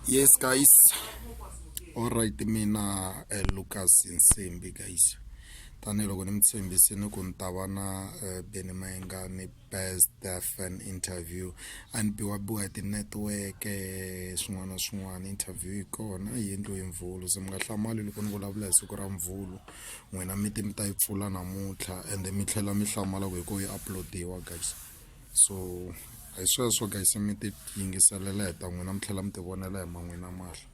yes guys all right mina uh, lucas nsimbi guys tanihiloko ni mi tshembisini ku ni ta va na uh, beni mayengani best fan interview a ni biwa biwa hi tinetiweke eh, swin'wana na swin'wana interview yi kona a yi endliwe hi mvhulu se mi nga hlamali loko ni vulavula hi siku ra mvhulu n'wina mi ti mi ta yi pfula namuntlha ende mi tlhela mi hlamala ku hi ko yi uploadiwa guys so hi sweswo guys mi ti yingiselela hi ta n'wina mi tlhela mi ti vonela hi man'wina mahla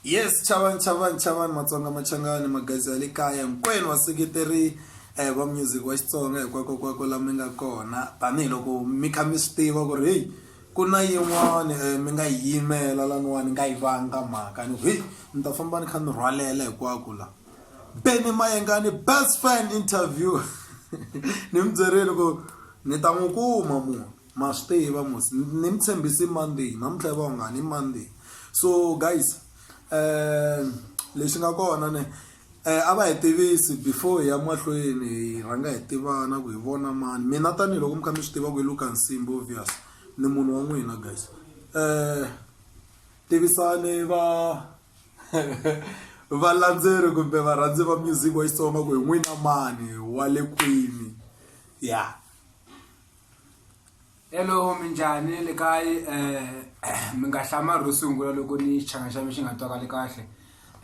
yes chavani chavani chavani matsonga machangani magazi ya le kaya hinkwenu vaseketeri eh va music wa Xitsonga hikwako kwako la mi nga kona tanihiloko mi kha mi swi tiva ku ri hey ku na yin'wani eh, mi nga yimela laniwani nga yi vanga mhaka ni ku hey ni ta famba ni kha ni rhwalela hikwako la Benny Mayengani best fan interview ni mi byerile ku ni ta n'wi kuma munhu ma swi tiva mos ni mi tshembisi monday namuntlha yi va ungani i monday so guys um lexi nga kona ne um a va hi tivisi before hi ya mahlweni hi rhanga hi tivana ku hi vona mani mina tanihiloko mi kha mi swi tiva ku hi luka nsimbi obvious ni munhu wa n'wina guys um tivisani va valandzeri kumbe varhandzi va music wa xitsonga ku hi n'wina mani wa le kwini ya hello minjhani le kayi um eh, mi nga hlamari ro sungula loko ni xichanga xa mi xi nga twakali kahle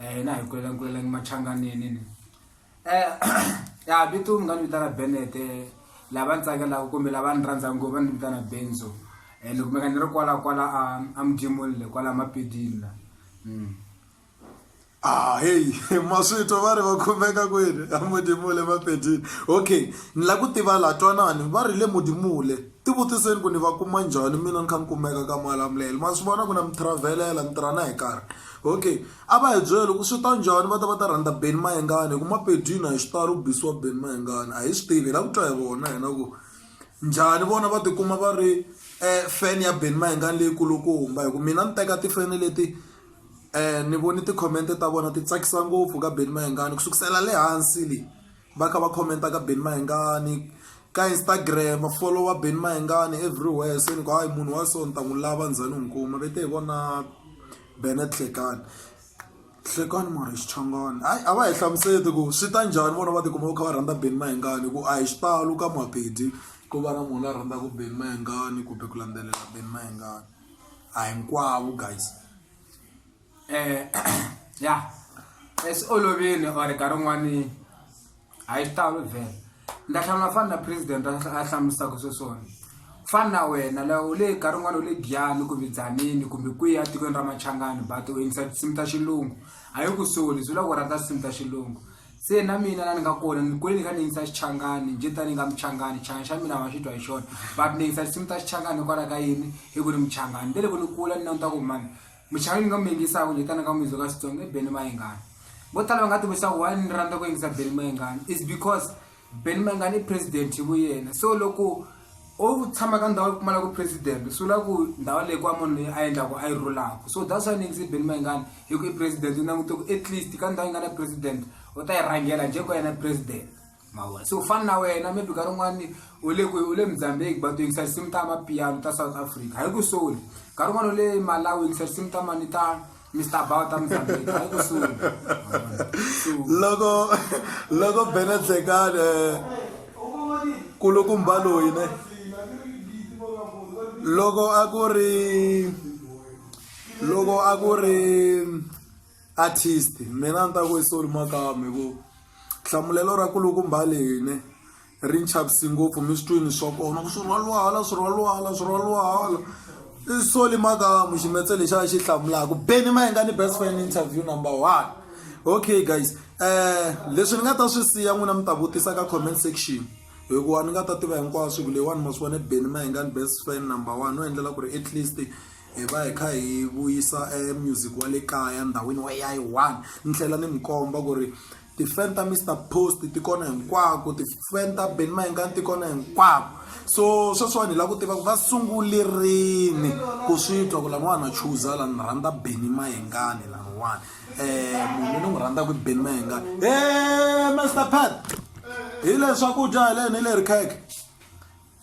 um na hi kulela ni kulela ni machanganini ni Eh, ya vito mi nga ni vitana Bennett eh, lava ni tsakelaka kumbe lava ni rhandza ngopfu va ni vitana Benzo eh, ni kumeka ni ri kwala kwala a a mujimulile kwala mapedini la mm. Ah, hey, maswito va ri va khumeka kwini a mudimule mapedini okay ni la ku tiva la twanani va ri le mudimule ti vutiseni ku ni va kuma njhani mina ni kha ni kumeka ka malamulele ma swi vona ku na mi travelela mi tirha na hi karhi okay A va hi byela loko swi ta njhani va ta va ta rhandza Benny Mayengani hi ku Mapedi na hi xitalo ku bisiwa Benny Mayengani a hi swi tivi hi lava ku twa hi vona hina ku njhani vona va tikuma va ri um fan ya Benny Mayengani leyi kulukumba hi ku mina ni teka tifeni leti ni voni ti-comment ta vona ti tsakisa ngopfu ka Benny Mayengani ku sukusela le hansi le. va kha va khomenta ka beni mahingani ka instagram va folowa beni mahingani everywhere se ni ku hayi munhu wa so ni ta n'wi lava ndzhani u n'wi kuma ve te hi vona benet hlekani hlekani mara xichangani hayi a va hi hlamuseti ku swi ta njhani vona va tikuma va kha va rhandza beni mahingani ku a hi xitalo ka maphedi ku va na munhu la rhandzaka beni mahingani kumbe ku landzelela beni mahingani a hinkwavo guys eh ya es olovini or ka rin'wani a yi talo vhela ndza hlamula fani na president a hlamulisaka swo swona fani na wena la u le ka rin'wana u le giyani kumbe dzanini kumbe kwihi etikweni ra machangani but u yingisa tinsimu ta xilungu a yi ku soli swi lava ku rhandza tinsimu ta xilungu se na mina la ni nga kona ni kule ni kha ni yingisa xichangani njhe tani nga muchangani xichangani xa mina ma xi twa hi xona but ni yingisa tinsimu ta xichangani hikwalaho ka yini hi ku ni muchangani nte loko ni kula ni languta ku mani muchayeri ni nga mi yingisa ku ni tana ka muyizo ka xitsonga i beni mayingani vo tala va nga tivisa ku why ni rhandza ku yingisa beni mayingani is because beni mayingani i president hi vuyena so loko o tshama ka ndhawu yi pfumalaka president swi vula ku ndhawu leyi ku wa munhu leyi a endlaku a yi rhulaka so that's why ni yingise beni mayingani hi ku i president ni langute ku at least ka ndhawu yi nga na president u ta yi rhangela njhe ku yena president mavona se u fana na wena maybe ka rin'wani u le ku u le mozambique but u yingisa tinsimu ta mapiano ta south africa hayi ku soli ka rin'wani u le malawi u yingisa tinsimu ta mani ta Mr. Bao ta Mozambique hayi ku soli loko loko bena tsekane kulukumba loyi ne loko a ku ri loko a ku ri artist mina a ni ta ku i soli makama hi ku hlamulelo ra kulukumba lene ri ni chavisi ngopfu mi swi twini swa kona ku swirhwalwala swirhwalwala swirhwalwala i soli makamu ximetse lexi a xi hlamulaka beni ma yinga ni best fan interview number one okay guys um leswi ni nga ta swi siya n'wina mi ta vutisa ka comment section hikuva ni nga ta tiva hinkwaswo ku leyiwani ma swi vone beni ma yinga ni best fan number one no endlela ku ri at least hi va hi kha hi vuyisa e music wa le kaya ndhawini wa ya yi one ni tlhela ni mi komba ku ri ti-fan ta mister post ti kona hinkwako ti-fan ta ben mayengani ti kona hinkwako so sweswiwani hi lava ku tiva ku va sungule rini ku swi twa ku laniwani a chuza la ni rhandza beni mayengani laniwani um munhu ni n'wi rhandzaka i beni mayengani e mister pat hi leswakudya hi leni hi le ri kheke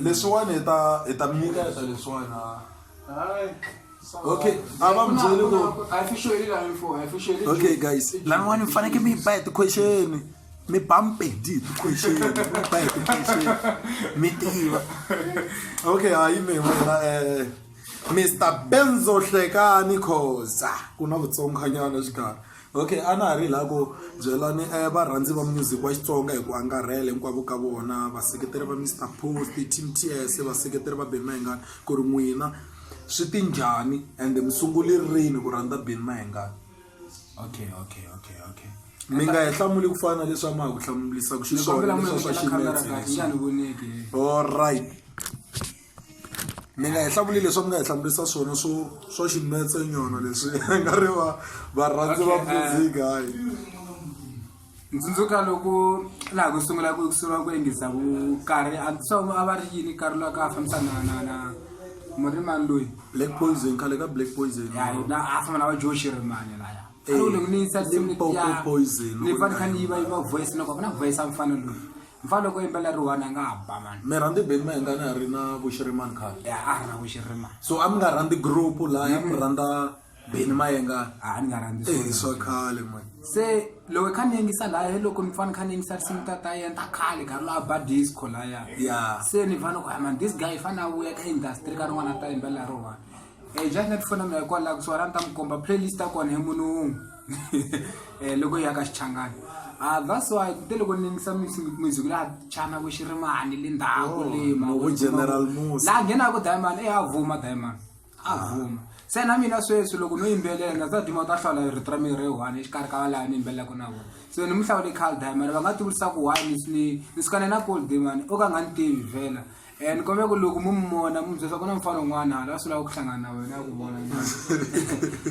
leswiwani hi ta hi ta mi nyika ta leswiwani okay ava mi byele ku okay guys laniwani mi fanekele mi yi ba hi ti-question mi ba mpedi hi ti-question mi ba hi ti-question mi tiva okay hayi mi wena um mr benzo hlekani khoza ku na vutsonganyana xikarhi okay a na ha ri laha ku byelani um varhandzi va music wa xitsonga hi ku angarhela hinkwavo ka vona vaseketeri va mr post team ts vaseketeri va beni mahingani ku ri n'wina swi ti njhani ende mi sunguli rini ku rhandza beni mahingani okay okay okay okay mi nga hi hlamuli ku fana leswi a ma ha ku hlamulisa ku xiswona leswa swa ximetse leswi all right mi nga hi hlamuli leswi mi nga hi hlamurisa swona swo swo ximetse nyona leswi nga ri va varhandzi va Okay, eh. music hayi ntsundzuka loko laha ku sungula ku sungula ku endlisa ku karhi a ndzi swa a va ri yini karhi loyi a ka a fambisa na na na murimani loyi black poison khale ka black poison ya na a famba na va joe xirimani laya ari kule kunisa simnipoko poison ni fani kha ni yiva yiva voice loko vana voice amfana lo mfana loko yimbela ri one nga ba man me randi ben ma nga na ri na vushiriman kha ya a ri na vushiriman so am nga randi group la ya mi randa ben ma nga a ni nga randi so eh, so khale man se loko kha ni ngisa la he loko ni fani kha ni ngisa sim ta ta yenta khale ka la ba disco la ya ya se ni fana ko man this guy fana u ya ka industry ka ri wana ta yimbela ro one Eh, just let fona mina hikwalaho kusuka la ni ta mi komba playlist ya kona hi munhu wun'we um loko yi ya ka xichangani ah, that's why te loko ni yingisa music laha chana ku xi rimani le ndhaku oh, lemaha nghenaka diamond e a vuma diamond a ah. vuma se na mina sweswi loko no yimbelela na ta duma ta hlawula rito ra miri one exikarhi ka valava ni yimbelelaka na vona so ni mu hlawule cal diamond va nga tivurisa ku why ni ni ni sukane na cold diamond o ka nga ni tivi vhela Eh, ni kombela ku loko mu mi vona mu byela ku na mufana un'wana hala swi lava ku hlangana na wena ya ku vona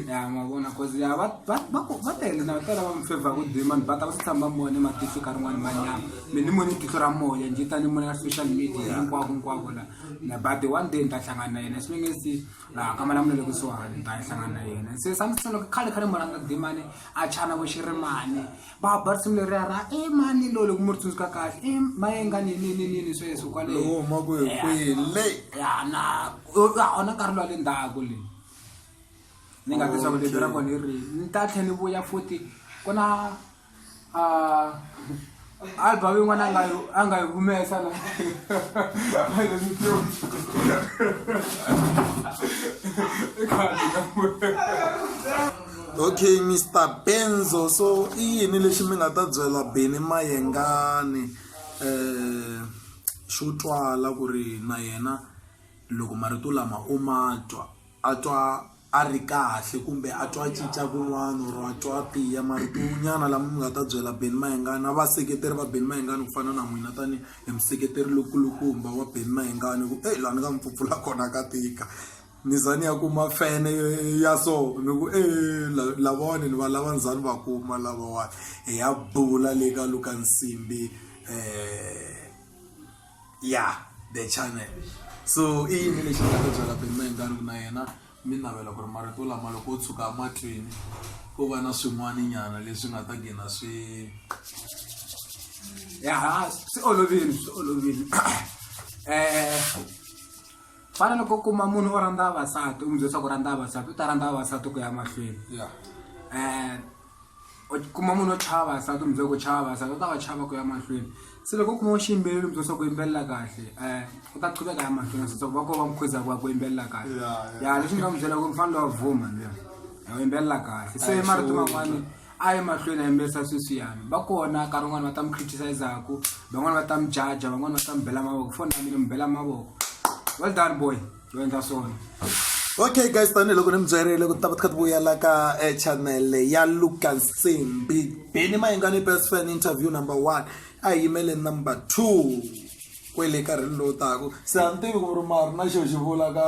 ya ma vona cause ya va va va ku- va tele na tala va mi favor ku dima ni bata va swi tshama mona matihlo ka rin'wana manyama mi ni mone tihlo ra moya njhe tani mona ya social media hinkwako hinkwako la na but one day ni ta hlangana na yena swi nge si laha ka mala munele kusuhani ni ta hlangana na yena se sa ni tsolo khale khale muranga dimani a chana vo xirimani va ba ri simu leriya ra e mani lowu loko mi ri tsundzuka kahle i mayenga nininini sweswo kwalehuma ku hi kwile yana ona nkarhi lowa le ndzhaku le ni nga tisa vulebi ra kona i ri ni ta tlhe ni vuya futhi ku na album yin'wana nga yi a nga yi humesa na i khadi okay mr benzo so i yini lexi mi nga ta byela beni mayengani um xo twala ku ri na yena loko marito lama u ma twa a twa a ri kahle kumbe a twa cinca kun'wana or a twa tiya marito nyana lama mi nga ta byela beni mayengani na vaseketeri va beni mayengani ku fana na n'wina tanihi hi museketeri lokulukumba wa beni mayengani ku e laha ni nga mi pfupfula kona ka tika ni za ni ya kuma fene ya so ni ku e lavawani ni va lava ni za ni va kuma lavawani hi ya bula le ka luka nsimbi um ya the channel so i yini lexi nga ta byela peni maendlani ku na yena mi navela ku ri marito lama loko o tshuka emahlweni ko va na swin'wana nyana leswi nga ta gina swi ya swi olovile swi olovile um fana loko kuma munhu o rhandza vavasati u mi byelisa ku rhandza vavasati u ta rhandza vavasati ku ya mahlweni ya um u kuma munhu o chava vavasati u mi byela ku chava vavasati u ta va chava ku ya mahlweni se loko u kuma u xiyimbeleri u mi byelisa ku yimbelela kahle um u ta chuveka ya mahlweni a sasaka va ko va mukhuza ku va ku yimbelela kahle Ya, ya. ya leswi ni nga mu byela ku mi fanele wa vuma luya u yimbelela kahle se Ayi, marito sure. man'wani a ye mahlweni a yimbelisa sweswiyani va kona nkarhi wun'wani va ta mi criticize-aku van'wani va ta mi jaja van'wani va ta mi bela mavoko foni ya mina mi bela mavoko well done boy yo endla swona okay guys tanihiloko ni mi byerile ku ta va ti kha ti vuyela ka eh, channel ya luka nsimbi beni mayingani best fan interview number one a hi yimele number two kwele karhini lowu taku se a ni tivi ku ri mari na xo xi vula ka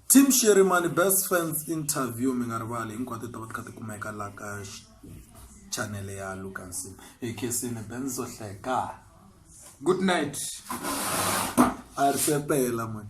Team Sherimani Best Fans Interview mi nga rivali hinkwato ti va ti kha ti kumeka la ka channel ya Lucas ekhesini Benzo Hleka good night a ri sepela mani